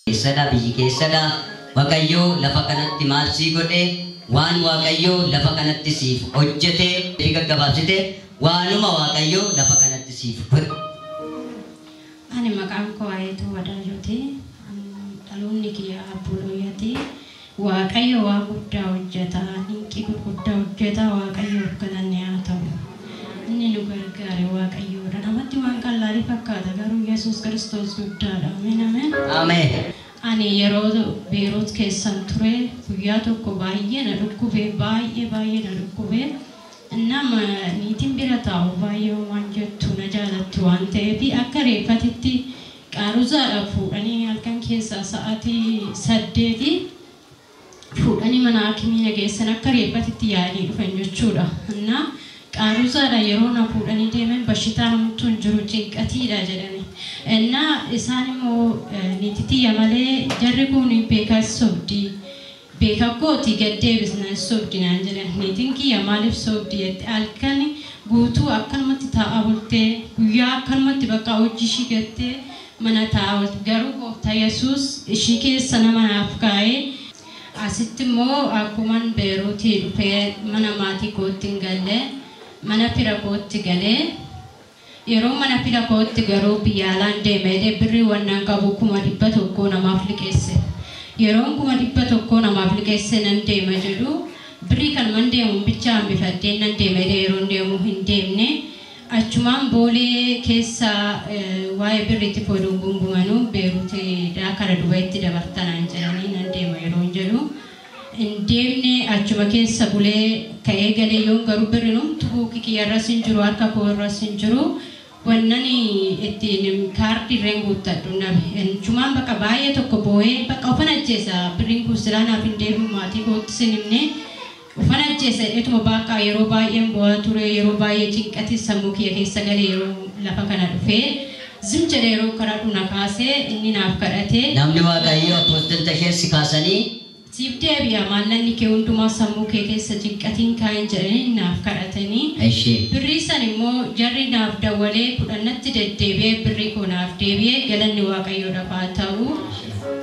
keessadha biyyi keessadha waaqayyoo lafa kanatti maal sii godhe waan waaqayyoo lafa kanatti siif hojjete fi gaggabaabsite waanuma waaqayyoo lafa kanatti siif godhe. Ani maqaan koo Ayeetuu Wadaajooti. Ani Dhaloonni kiyya Abboolooyyaati. Waaqayyo waan guddaa hojjeta. Dinqii gurguddaa hojjeta. Waaqayyoof galanni haa ta'u. Inni nu gargaare Waaqayyoodha. Namatti waan qallaalii fakkaata garuu Yesuus Kiristoos guddaadha. Ameen ameen. Ameen. Ani yeroo Beerut keessan ture guyyaa tokko baay'ee na dhukkube baay'ee baay'ee na dhukkube innam niitiin bira taa'u baay'ee homaan jettu na jaalatti waan ta'eef akka reeffatitti Qaaruzaadhaa fuudhanii halkan keessaa sa'aatii saddeeti fuudhanii mana haakimii na geessan akka reeffatitti yaa'anii dhufan jechuudha. Innaa Qaaruzaadhaa yeroo na fuudhanii deeman bashitaan homtuu hin jiru cinqatiidha jedhani. Innaa isaan immoo niiti tiyya malee jarri kun beekaas sobdi. Beeka kooti gad deebisna hin sobdi naan jedhan niitin kiyya maalif sobdi jette halkan guutuu akkanumatti taa'a bulte guyyaa akkanumatti bakka hojji ishii gattee mana taa'a oolti garuu gooftaa yesuus ishii keessa nama naaf kaa'ee asitti immoo akkuman beeruutii dhufee mana maatii kootti hin galle mana fira kootti galee Yeroo mana fida kootti garuu biyya alaan deema jedhee birrii wannan qabu kuma dhibba tokkoo namaaf liqeesse. Yeroon kuma dhibba tokkoo namaaf liqeessee nan deema jedhu birrii kanuman deemuun bichaa hambifadheen nan deema jedhee yeroon deemu hin deemne. Achumaan Boolee keessa waa'ee birriitiif oduun gungumanuu Beeruutidhaa kara Dubayitti dabarta naan jedhanii nan deema yeroon jedhu hin deemne achuma keessa bulee ka'ee galee yoon garuu birrin homtu buuki kiyya irras hin jiru harka koo irras hin jiru wannan ittiin kaardi irreen guuttadhu nabe enchumaan baqa baay'ee tokko booyee baqa ufan ajjeesa birrin kun silaa naaf hin deebi'u maatii kootti sin himne ufan ajjeesa jedheetuma baaqaa yeroo baay'een boo'aa ture yeroo baay'ee cinqatis sammuu kiyya keessa gale yeroo lafa kana dhufee Zim jedhe yeroon kadhadhu na kaase inni naaf kadhate. Namni Waaqayyoo Apostil Tasheen si kaasanii. Siif deebi'a maallaqni kee hundumaa sammuu kee keessa cinqati hin kaa'in jedhanii naaf kadhatanii. Eshi. Birrii san immoo jarri naaf dawwalee kudhan natti deddeebi'ee birrii koo naaf deebi'e galanni Waaqayyoodhaf haa ta'u.